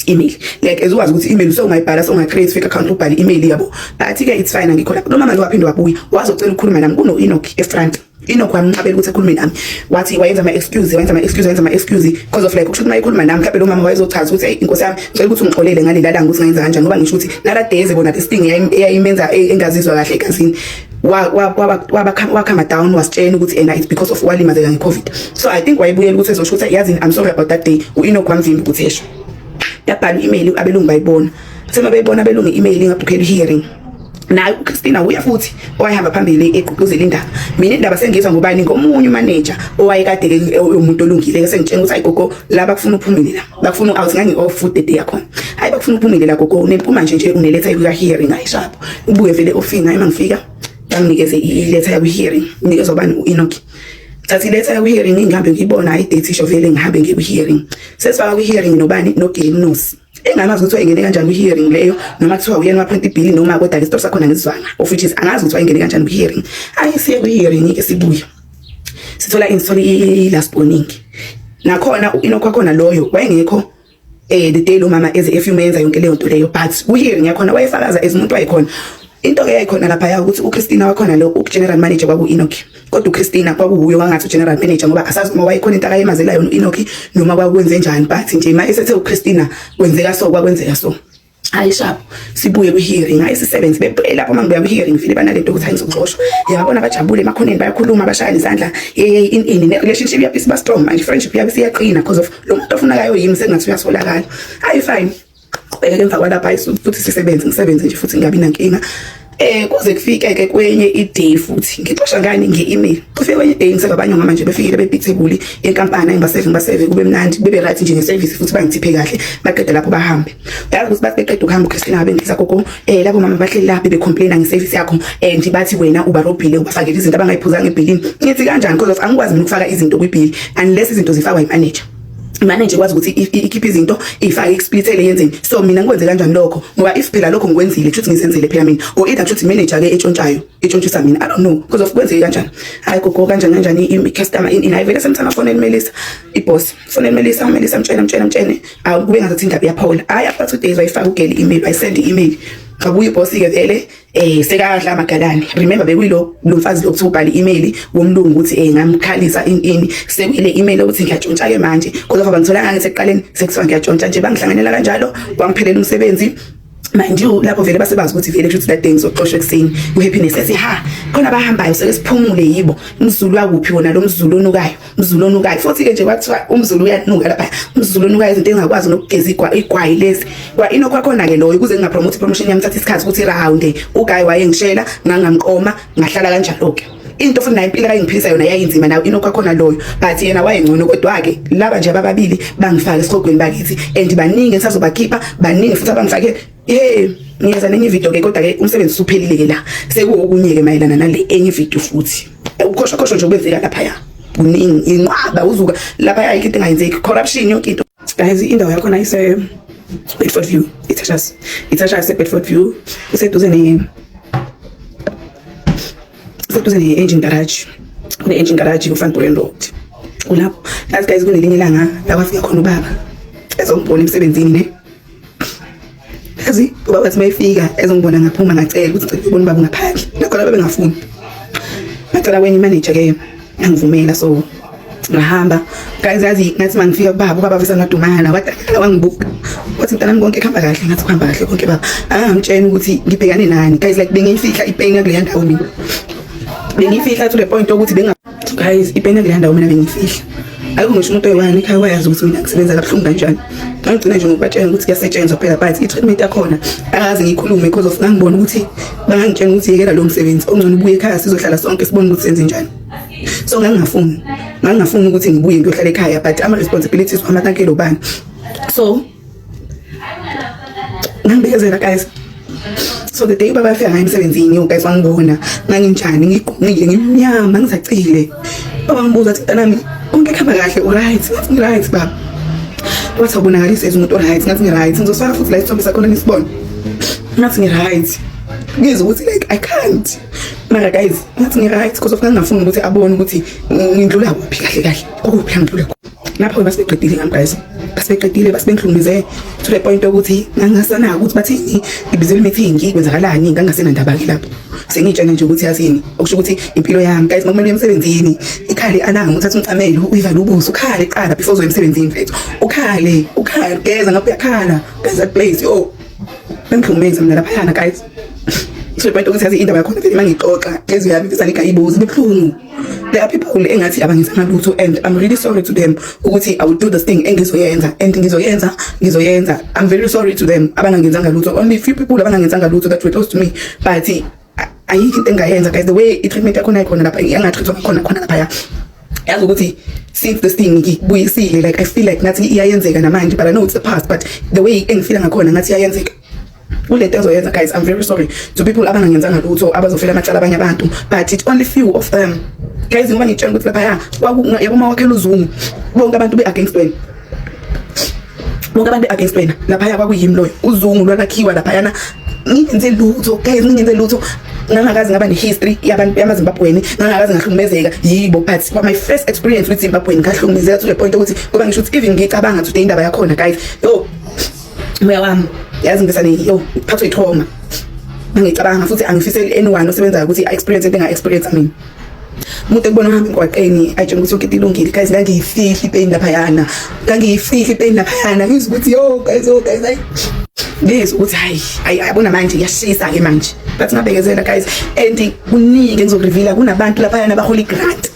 email like as uwazi ukuthi email usewungayibhala sewungacreate fake account ubhale email yabo but ke it's fine angikho lapho lomama lo waphinde wabuya wazocela ukukhuluma nami kuno Enoch efront Inokho amnqabela ukuthi akhulume nami. Wathi wayenza ama excuse, wayenza ama excuse, wayenza ama excuse because of like ukusho ukuthi mayikhuluma nami mhlawumbe lo mama wayezochaza ukuthi hey inkosi yami ngicela ukuthi ungixolele ngale lalanga ukuthi ngayenza kanjani ngoba ngisho ukuthi nala days bona this thing eyayimenza e, engazizwa kahle egazini wakhama down wasitshena ukuthi ena it's because of walimazeka ngecovid so i think wayebuyela ukuthi ezosho ukuthi yazini i'm sorry about that day u-enoch wamvimba ukuthi esho yabhala i-email abelungu bayibona sema beyibona abelungu i-email ingabhukhela i-hearing naye uChristina uya futhi owayehamba phambili egqugquzela indaba mina indaba sengizwa ngobani ngomunye umaneja owayekade ke umuntu olungile sengitshela ukuthi ayigogo la bakufuna uphumile la bakufuna out ngangi off food day yakho hayi bakufuna uphumile la gogo unempuma nje nje uneletha yokuya hearing ayishapho ubuye vele ofinga uma ngifika banginikeze iletha yokuya hearing nginikeza ubani uEnoch thatha iletha yokuya hearing ngihambe ngiyibona ayi date isho vele ngihambe ngiye ku hearing sesifaka ku hearing nobani no Gilnosi engangazi ukuthi wayengene kanjani kwi-hearing leyo noma kuthiwa uyena waphrinta ibhili noma kodwa-ke isitori sakhona ngesizwana of which is angazi ukuthi wayengene kanjani kwi-hearing ayi siye kwi-hearing-ke sibuye sithola ini sithola i-last warning nakhona u-inokho wakhona loyo wayengekho um eh, the day lo mama eze efuma yenza yonke leyo nto leyo but kwi-hearing yakhona wayefakaza as umuntu wayekhona into-ke yayikhona laphaya ukuthi uchristina wakhona lo ugeneral manager kwaku-inokhi kodwa uChristina kwakuwuyo wangathi uGeneral Manager ngoba asazi uma wayekhona into akayemazelayo uEnoki noma kwakwenze njani but nje uma esethe uChristina kwenzeka so kwakwenzeka so hayi shabo sibuye kwi-hearing hayi sisebenzi bephele lapho uma ngibuya kwi-hearing ngifile banale nto ukuthi hayi ngizoxoshwa yababona bajabule emakhoneni bayakhuluma bashayana izandla yeyeyi in ini ne-relationship yabo isiba strong manje friendship yabo isiyaqina because of lo muntu ofunakayo yimi sekungathi uyasolakala hayi fine qhubeke emva kwalapha ayisuthi futhi sisebenze ngisebenze nje futhi ngingabi nankinga eh kuze kufike ke kwenye iday futhi ngixosha ngani nge-email kufike kwenye iday ngiseva abanye ngama nje befikile bebithebuli yenkampani engibaseve ngibaseve kube mnandi bebe right nje ngeservice futhi bangithiphe kahle baqeda lapho bahambe uyazi ukuthi bathi beqeda ukuhamba uChristina ngabe ngisa gogo eh labo mama bahleli lapho becomplaina ngeservice yakho eh nje bathi wena ubarobhile ubafakele izinto abangayiphuzanga ebhilini ngithi kanjani because angikwazi ukufaka izinto kwibhili unless izinto zifakwa yimanager ngane nje kwazi ukuthi ikhiphe izinto ifake ikusplithele yenzeni so mina ngikwenze kanjani lokho ngoba if phela lokho ngikwenzile kushuthi ngizenzele phela mina or either kushuthi manager ke etshontshayo etshontshusa mina i don't know because of kwenzeke kanjani hayi gogo kanjani kanjani i customer in hayi vele semthana fone emelisa i boss fone emelisa umelisa mtshela mtshela mtshene awu kube ngathi indaba iyaphawula hayi after two days wayifaka ugeli email wayisend email ngabuye boss ke vele eh sekadla amagalani remember bekuyilo lo mfazi lo kuthiwa ubhale i-email womlungu ukuthi eh ngamkhalisa intini sekuyile email ukuthi ngiyatshontsha ke manje kodwa ngoba ngitholanga ngeseqaleni sekuthiwa ngiyatshontsha nje bangihlanganela kanjalo kwangiphelela umsebenzi mind you lapho vele basebazi ukuthi vele kusho ukuthi that day ngizoxoshwa ekuseni ku-happiness ethi ha khona abahambayo seke siphumule yibo mzulu wakuphi wona lo mzulu onukayo Mzulu onukayo futhi-ke nje kwathiwa umzulu uyanuka lapha umzulu onukayo izinto engakwazi nokugeza igwayi lezi kwa inokwakhona-ke loyo ukuze ngingapromote ipromotion yami thatha isikhathi ukuthi rahawunde ugayi wayengishela ngangamqoma ngahlala kanjalo-ke into futhi nayo impilo ayingiphilisa yona yayinzima nayo inokwakhona loyo but yena wayengcono kodwa-ke laba nje abababili bangifake esihogweni bakithi and baningi engisazobakhipha baningi futhi abangifake Hey, ngiyeza nenye video ke kodwa ke umsebenzi usuphelile ke la. Sekuwokunye ke mayelana nale enye video futhi. Ukhoshwa khoshwa nje okwenzeka lapha ya. Kuningi inqaba uzuka lapha ya into engayenzeki corruption yonke into. Guys, indawo yakho na ise Bedford View. Ithashas. Ithashas se Bedford View. Useduze ne Useduze ne engine garage. Kune engine garage ku Van Buren Road. Kulapho. As guys kunelinye ilanga la kwafika khona ubaba. Ezombona emsebenzini ne. Kazi ubaba wathi mayifika ezongibona ngaphuma ngacela ukuthi cela ubona ubaba ngaphandle. Nakho laba bengafuni. Ngacela kwenye manager ke angivumela so ngahamba guys yazi ngathi mangifika kubaba ubaba visa ngadumala wadakala wangibuka wathi mntanami konke kuhamba kahle ngathi kuhamba kahle konke baba angangitshena ukuthi ngibhekane nani guys like bengiyifihla ipain yakuleya ndawo mina bengiyifihla to the point ukuthi benga guys ipena kule ndawo mina bengifihla ayikho ngisho umuntu oyiwani ekhaya wayazi ukuthi mina ngisebenza kabuhlungu kanjani ngagcina nje ngokubatshela ukuthi kuyasetshenzwa phela but i-treatment yakhona akaze ngiyikhulume because of ngangibona ukuthi bangangitshela ukuthi yekela lo msebenzi ongcono ubuye ekhaya sizohlala sonke sibone ukuthi senze njani so ngangingafuni ngangingafuni ukuthi ngibuye ngiyohlala ekhaya but ama-responsibilities wami akankelo bani so ngambekezela guys so the day ubaba afika ngayo emsebenzini yo guys wangibona nganginjani ngigqungile ngimnyama ngisacile baba ngibuza ukuthi mntanami konke kuhamba kahle uright ngathi ngiright baba wathi awubonakalisa as umuntu oright ngathi ngiright ngizosifaka futhi la isithombe sakhona nisibone ngathi ngiright ngizwa ukuthi like i can't mara guys ngathi ngiright because of ngangingafuni ukuthi abone ukuthi ngindlula kuphi kahle kahle okuphi la ngidlula lapho basibeqedile ngamgayisa basibeqedile basibengihlumeze to the point yokuthi ngangasanaka ukuthi bathini ngibizela i-meeting kwenzakalani ngangasenandaba-ke lapho sengiyitshena nje ukuthi yathini okusho ukuthi impilo yami guys makumele emsebenzini ikhale ananga uthatha umcamelo uyivale ubuso ukhale qala before uzoya emsebenzini mfethu ukhale ukhale geza ngapha uyakhala guys that place yo bengihlumeze mina laphayana guys to the point yokuthi yazi indaba yakhona vele uma ngixoxa ngezwi yami mfisa ngigayibuzi bebuhlungu there are people engathi abangenzanga lutho and i'm really sorry to them ukuthi i will do this thing engizoyenza and ngizoyenza ngizoyenza i'm very sorry to them abangangenzanga lutho only few people abangangenzanga lutho that were close to me but ayikho into engayenza guys the way i-treatment yakhona ikhona lapha yangatrithwa ngakhona khona laphaya yazi ukuthi since this thing ngibuyisile like i feel like ngathi iyayenzeka namanje but i know it's the past but the way engifila ngakhona ngathi iyayenzeka kulento ezoyenza guys i'm very sorry to people abangangenzanga lutho abazofela amacala abanye abantu but it only few of them guys ngoba ngitshela ukuthi lapha ya yabo uma wakhela uzungu bonke abantu be-against wena bonke abantu be-against wena laphaya kwakuyimi loyo uzungu lwalakhiwa laphayana ngingenze lutho guys ngingenze lutho ngangakazi ngaba ne-history yabantu yamazimbabweni ngangakazi ngahlukumezeka yibo but for my first experience with zimbabweni ngahlukumezeka to the point ukuthi kuba ngisho ukuthi even ngicabanga today indaba yakhona guys yo Moya wami yazi ngisale yo phathwe ithoma. Ngicabanga futhi angifiseli anyone osebenzayo ukuthi i experience into enga experience mina. umuntu ekubona uhamba emgwaqeni ayitshela ukuthi yonke into ilungile guys ngangiyifihla ipain laphayana ngangiyifihla ipain laphayana ngizwa ukuthi yo guys yo guys ayi ngizwa ukuthi hayi ayi yabona manje iyashisa-ke manje but ngabekezela guys and kuningi engizokurivila kunabantu laphayana abahola i-grant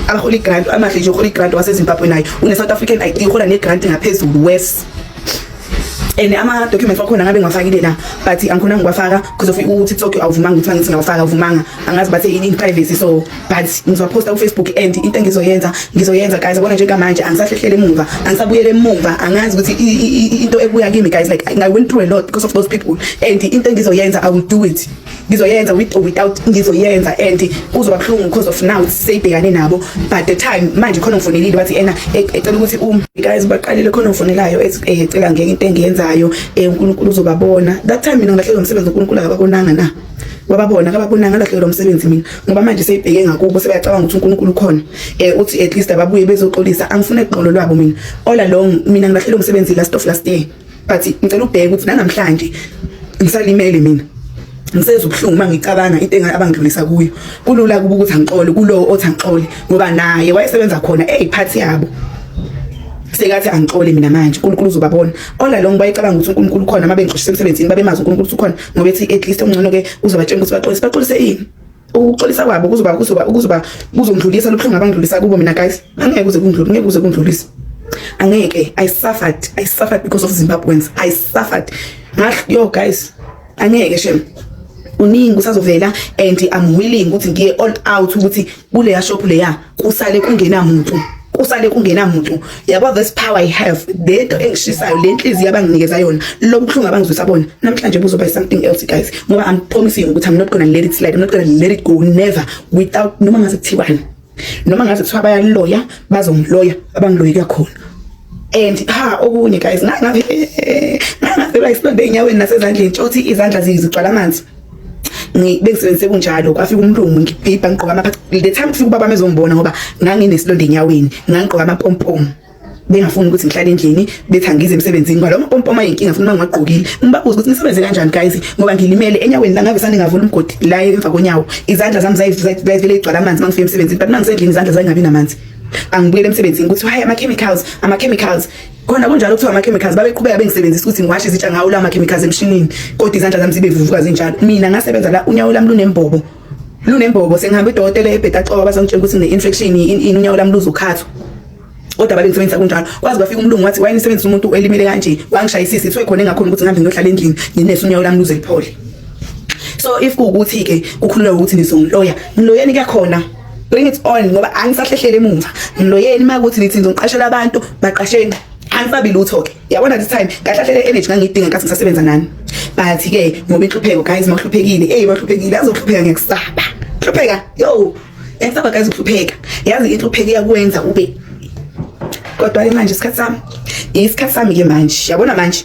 abahola i-grant amahle nje uhola i-grant wasezimbabwe naye une-south african id uhola ne-grant ngaphezulu wes and ama-documents wakhona ngabe ngiwafakile la but angikhona ngiwafaka because of u-tiktok awuvumanga ukuthi mangithi ngiyawafaka awuvumanga angazi bathe yini privacy so but ngizowaphosta kufacebook and into engizoyenza ngizoyenza guys yabona njengamanje angisahlehlele emumva angisabuyele emumva angazi ukuthi into ebuya kimi guys like i went through a lot because of those people and into engizoyenza i will do it ngizoyenza with or without ngizoyenza and kuzoba buhlungu because of now seyibhekane nabo but the time manje khona ngifonelile wathi ena e, ecela ukuthi um guys baqalile khona ngifonelayo eh, ecela ngeke into engiyenzayo eh, uNkulunkulu uzobabona that time mina ngilahlelwe umsebenzi uNkulunkulu akabakonanga na wababona kababonanga lahlelwa umsebenzi mina ngoba manje seyibheke ngakubo sebeyacabanga ukuthi uNkulunkulu ukhona eh uthi at least ababuye bezoxolisa angifune iqolo lwabo mina all along mina ngilahlelwa umsebenzi last of last year but ngicela ubheke ukuthi nanamhlanje ngisalimele mina ngisenza ubuhlungu uma ngicabanga into engane abangidlulisa kuyo kulula kuba ukuthi angixole kulowo othi angixole ngoba naye wayesebenza khona eyiphathi yabo sekathi angixole mina manje uNkulunkulu uzobabona ola lo ngibayicabanga ukuthi uNkulunkulu khona uma bengixoshisa emsebenzini babemazi uNkulunkulu ukhona ngoba ethi at least ongcono ke uzobatshela ukuthi baxolise baxolise yini ukuxolisa kwabo kuzoba kuzoba kuzoba kuzongidlulisa lobuhlungu abangidlulisa kubo mina guys angeke kuze kungidlule ngeke kuze kungidlulise angeke i suffered i suffered because of zimbabweans i suffered ngah yo guys angeke shem uningi usazovela and i'm willing ukuthi ngiye all out ukuthi kuleya shop leya kusale kungena muntu kusale kungena muntu yabo this power i have lento engishisayo le nhliziyo abanginikeza yona lo buhlungu abangizwisa bona namhlanje buzoba something else guys ngoba i'm promising ukuthi i'm not gonna let it slide i'm not gonna let it go never without noma ngaze kuthiwani noma ngaze kuthiwa bayaloya bazongiloya abangiloyi kakhona and ha okunye guys ngangabe ngangabe bayisilonde enyaweni nasezandleni tshothi izandla zigcwala amanzi bengisebenzise kunjalo kwafika umlungu ngibhibha ngigqoka ama the time kufika ubaba mezongibona ngoba nganginesilonda enyaweni ngangigqoka amapompom bengafuni ukuthi ngihlale endlini bethi angize emsebenzini ngoba loma pompoma yinkinga futhi uma ngingagqokile ngibabuza ukuthi nisebenze kanjani guys ngoba ngilimele enyaweni langabe sane ngavula umgodi la emva konyawo izandla zami zayivele igcwala amanzi uma ngifika emsebenzini but uma ngisendlini izandla zangabi namanzi angibuyele emsebenzini ukuthi hayi ama chemicals ama chemicals khona kunjalo kuthiwa ama-chemicals babeqhubeka bengisebenzisa ukuthi ngiwashe izitsha ngawo la ma-chemicals emshinini kodwa izandla zami zibe vuvuka zinjalo mina ngasebenza la unyawo lami lunembobo lunembobo sengihambe udokotela ebheda coba bazongitshela ukuthi ngine-infection ini unyawo lami luzokhathwa kodwa babengisebenzisa kunjalo kwaze kwafika umlungu wathi wayenisebenzisa umuntu elimele kanje wangishayisisa kuthiwe khona engakhona ukuthi ngihambe ngiyohlala endlini nginese unyawo lami luze liphole so if kuwukuthi-ke kukhululwa ukuthi nizongiloya ngiloyeni kuyakhona bring it on ngoba angisahlehlele emuva ngiloyeni uma ukuthi nithi ngizongiqashela abantu baqasheni angisabi lutho ke yabona this time kahlahlele energy ngangidinga nkathi ngisasebenza nani but ke ngoba inhlupheko guys mahluphekile hey mahluphekile azohlupheka ngekusaba hlupheka yo ngekusaba guys uhlupheka yazi inhlupheko iyakwenza ube kodwa ke manje isikhathi sami isikhathi sami ke manje yabona manje